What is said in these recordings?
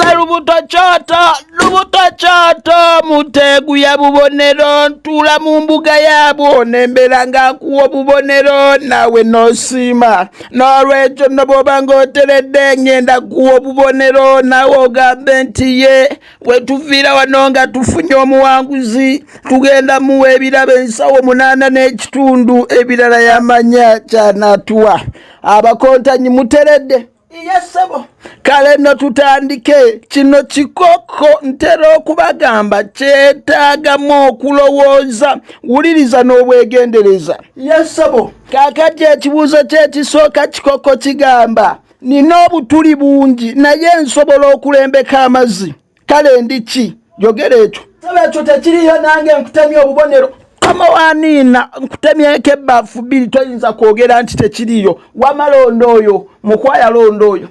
Nze lubuto kyota lubuto kyota muteegu ya bubonero ntuula mu mbuga yaabwo nembera nga nkuwa obubonero naawe nosiima n'olwekyo no bwoba ng'oteredde ngenda kuwa obubonero naawe ogambe nti ye wetuviira wano nga tufunye omuwanguzi tugenda muwa ebirabo ensawo munaana n'ekitundu ebirala yamanya kyanaatuwa abakontanyi muteredde iyesebo kale no tutandike kino kikoko ntera okubagamba kyetaagamu okulowooza wuliriza n'obwegendereza yesebo kakati ekibuuzo kyekisooka kikoko kigamba nina obutuli bungi naye nsobola okulembeka amazzi kale ndi ki yogera ekyo saba ekyo tekiriyo nange nkutemya obubonero kama waniina nkutemyeko ebbafu bbiri toyinza kwogera nti tekiriyo wamalonda oyo mukwayalonda oyo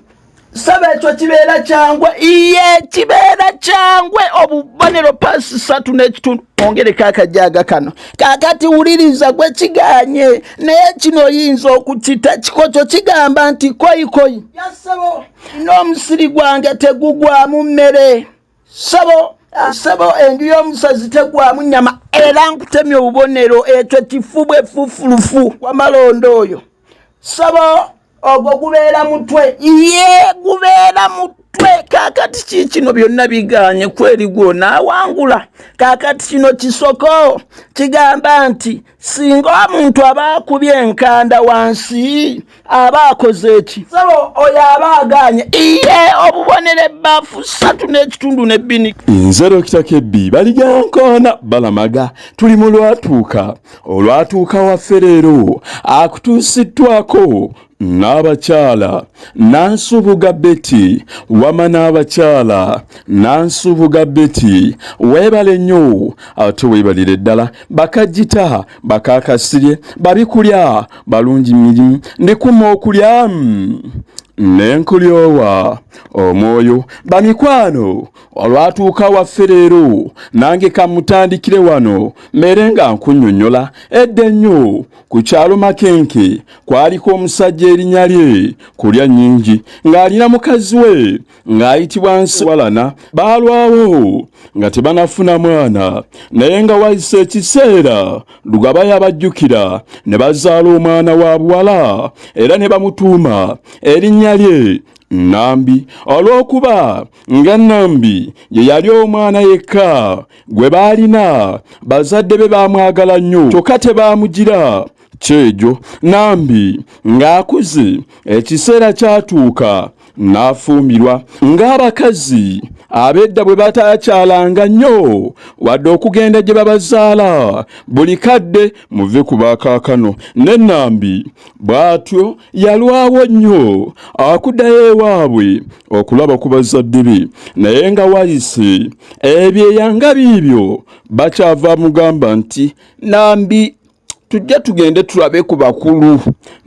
saba ekyo kibeera kyangwe iye kibeera kyangwe obubonero pasi satu n'ekitundu ongereko akajaga kano kakati wuliriza gwe kiganye naye kino oyinza okukita kikokyo kigamba nti koyikoyi yasebo n'omusiri gwange tegugwamu mmere sabo sabo enju y'omusazi tegwamu nnyama era nkutemya obubonero ekyo kifu bwe fufulufu wamalondo oyo sabo ogwo gubeera mutwe ye gubeera mutwe kwe kakati kikino byonna biganye kweri gwona awangula kakati kino kisoko kigamba nti singa omuntu aba akubye enkanda wansi aba akoze eki sabo oyo aba aganye iye obubonero ebbaafu satu n'ekitundu ne bbini nze dokita kebbi baligankoona balamaga tuli mu lwatuuka olwatuuka waffe leero akutuusiddwako n'abakyala nansubuga beti wama n'abakyala nansubuga beti weebale nnyo ate weebalire ddala bakajjita bakakasirye babikulya balungi mirimu ndikuma okulya nenkulyowa omwoyo bamikwano olwatuuka waffe leero nange kamutandikire wano mere nga nkunyonyola edda ennyo Ku kyalo Makenke kwaliko omusajja erinya lye kulya nnyingi ng'alina mukazi we ng'ayitibwa Nsiwalana baalwawo nga tebanafuna mwana naye nga wayise ekiseera Lugaba yabajjukira ne bazaala omwana wa buwala era ne bamutuuma erinnya lye Nambi olw'okuba nga Nambi ye yali omwana yekka gwe baalina bazadde be baamwagala nnyo kyokka tebaamugira kyejo nambi ng'akuze ekiseera kyatuuka n'afumbirwa ng'abakazi abedda bwe bataakyalanga nnyo wadde okugenda gye babazaala buli kadde muve ku bakaakano ne nambi bw'atyo yalwawo nnyo akuddayo ewaabwe okulaba ku bazzadde be naye nga wayise ebyeyanga biibyo bakyava mugamba nti nambi tujja tugende tulabe ku bakulu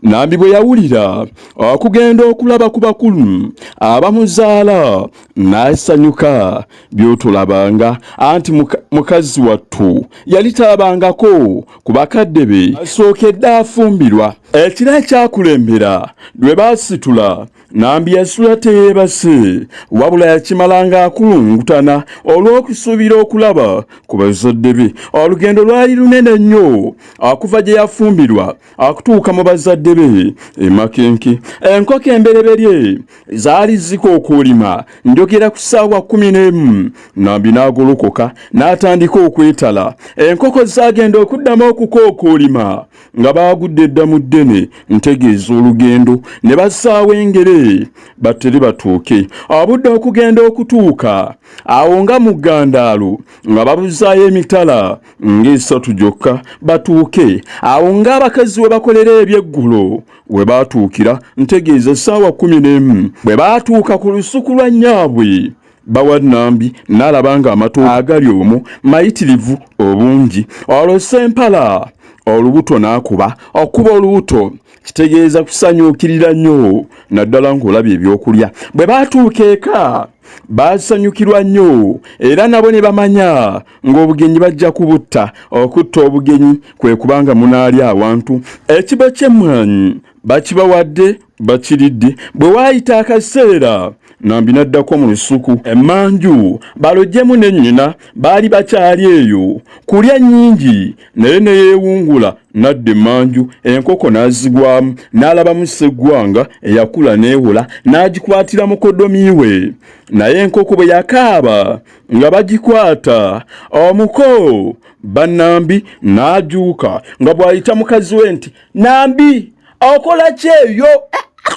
nambi bwe yawulira okugenda okulaba ku bakulu abamuzaala n'asanyuka byotulabanga anti mukazi wattu yali talabangako ku bakadde be asookedde afumbirwa ekiro ekyakulembera lwe baasitula Nambi yasula teyeebase wabula yakimala ng'akulungutana olw'okusuubira okulaba ku bazadde be. Olugendo lwali lunene nnyo akuva gye yafumbirwa akutuuka mu bazadde be e Makenke. Enkoko embereberye zaali zika okulima njogera ku ssaawa kkumi n'emu Nambi n'agolokoka n'atandika okwetala. Enkoko zaagenda okuddamu okuka okulima nga baagudde dda mu ddene ntegeeza olugendo ne bassaawo engere battere batuuke abudde okugenda okutuuka awo nga mu ggandaalo nga babuzaayo emitala ng'esatu gyokka batuuke awo ng'abakazi we bakolera ebyeggulo we baatuukira ntegeeza essaawa kumi n'emu bwe baatuuka ku lusuku lwa nnyaabwe bawa nambi n'alaba ng'amatu agali omu mayitirivu obungi olwo sempala olubuto n'akuba okuba olubuto kitegeeza kusanyukirira nnyo naddala ng'olabye ebyokulya bwe baatuuka eka baasanyukirwa nnyo era nabo ne bamanya ng'obugenyi bajja kubutta okutta obugenyi kwe kubanga munaalya awantu ekibo ky'emmwanyi bakibawadde bakiridde bwe waayita akaseera nambi n'addako mu lusuku emanju balojjemu ne nnyina baali bakyali eyo kulya nnyingi naye ne yeewungula n'adda emanju enkoko n'azigwamu n'alabamu sseggwanga eyakula n'ewola n'agikwatira mukodomi we naye enkoko bwe yakaaba nga bagikwata omuko bannambi n'ajuuka nga bw'ayita mukazi we nti nambi okola kyeyo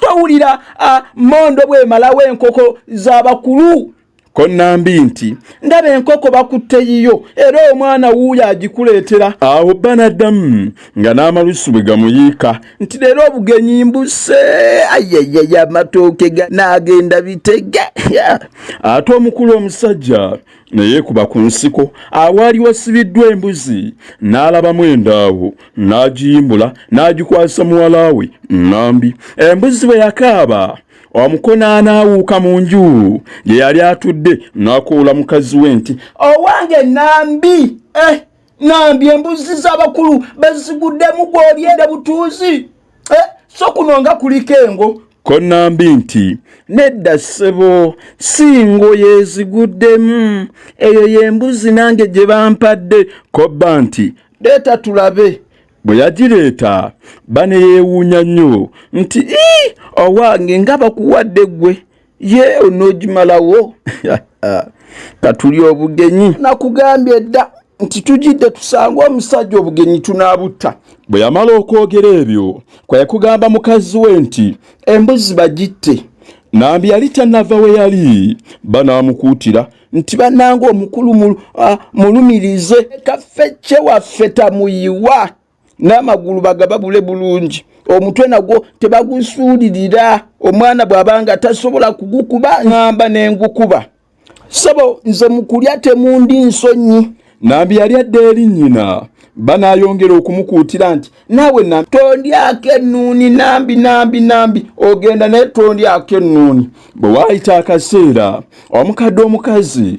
towulira mondo bwemalawo enkoko zabakulu ko nambi nti ndaba enkoko bakutte yiyo era omwana wuuyo agikuleetera awo banaddamu nga n'amalusu bwe gamuyiika nti leero obugenyi mbuse ayayaya amatooke n'agenda bitege ate omukulu omusajja ne yeekuba ku nsiko awaali wasibiddwa embuzi n'alabamu endaawo n'agiyimbula n'agikwasa muwala we nnambi embuzi bwe yakaaba omukono anaawuuka mu nju gye yali atudde n'akoola mukazi we nti owange nnambi eh! Nambi embuzi z'abakulu baziguddemu gw'olyenda butuuzi eh, so kuno nga kuliko engo ko nambi nti nedda ssebo si ngoye eziguddemu eyo y'embuzi nange gye bampadde kobba nti leeta tulabe bwe yagireeta baneyeewuunya nnyo nti ii owange nga bakuwadde ggwe ye onogimalawo katuli obugenyi nakugambye dda nti tujidde tusanga omusajja obugenyi tunabutta bwe yamala okwogera ebyo kwekugamba mukazi we nti embuzi bagitte nambi yali tanava we yali banamukuutira nti bananga omukulu mulumirize kaffe kyewaffe tamuyiwa n'amagulu bagababule bulungi omutwe nagwo tebagusuulirira omwana bw'abanga tasobola kugukuba ngamba nengukuba sebo nze mukulya temundi nsonyi nambi yali adda eri nnyina banayongera okumukuutira nti naawe nambi tondyako ennuuni nambi nambi nambi ogenda naye tondyako ennuuni bwe waayita akaseera omukadde omukazi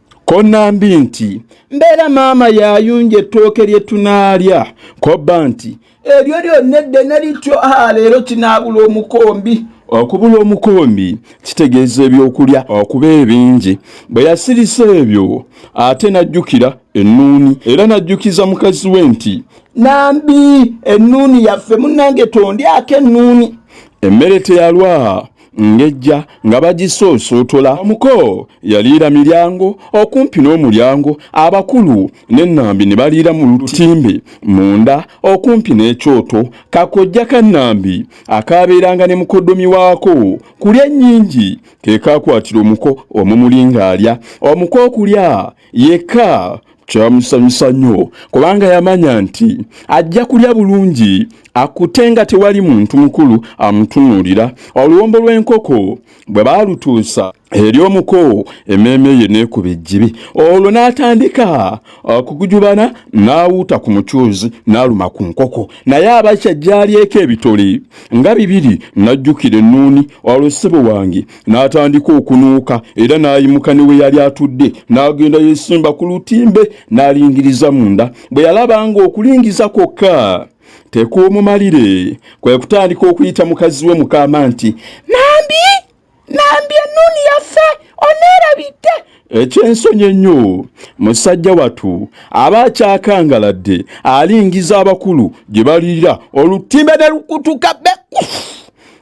ko nambi nti mbeera maama yayunja ettooke lye tunaalya kobba nti eryo lyonna eddene lityo a leero kinaabula omukombi okubula omukombi kitegeeza ebyokulya okuba ebingi bwe yasirisa ebyo ate n'ajjukira ennuuni era n'ajjukiza mukazi we nti nambi ennuuni yaffe munnange tondyako ennuuni emmere teyalwa ngejja nga bagisoosootola omuko yaliira miryango okumpi n'omulyango abakulu n'ennambi ne baliira mu lutimbe munda okumpi n'ekyoto kakojja ka nnambi akaabeeranga ne mukoddomi waako kulya nnyingi ke kaakwatira omuko omumuli ng'alya omuko okulya yekka kyamusanyusa nnyo kubanga yamanya nti ajja kulya bulungi akute nga tewali muntu mukulu amutunuulira oluwombo lw'enkoko bwe baalutuusa eri omuko emmeeme ye neekuba ejjibi olwo n'atandika okugujubana n'awuuta ku mucuuzi n'aluma ku nkoko naye abakya gyalyeko ebitole nga bibiri n'ajjukira ennuuni olwo ssebo wange n'atandika okunuuka era n'ayimuka ne we yali atudde n'agenda yesimba ku lutimbe n'alingiriza munda bwe yalaba nga okulingiza kwokka tekuumumalire kwe kutandika okuyita mukazi we mukaama nti nambi nambi ennuuni yaffe oneerabidde eky'ensonyi ennyo musajja watu aba akyakangaladde alingiza abakulu gye baliira olutimbe ne lukutuka beku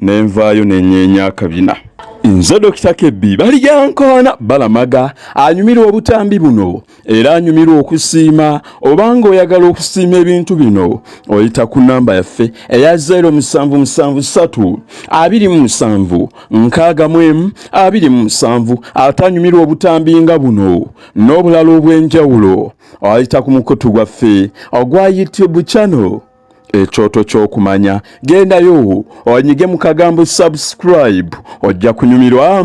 ne nvaayo ne nyeenya akabina nze dokita kebbi balijankoona balamaga anyumirwa obutambi buno era anyumirwa okusiima obanga oyagala okusiima ebintu bino oyita ku namba yaffe eya 077327 ate anyumirwa obutambi nga buno n'obulala obw'enjawulo oyita ku mukutu gwaffe ogwa youtube channel ekyoto ky'okumanya gendayo onyige mu kagambo subscribe ojja kunyumirwa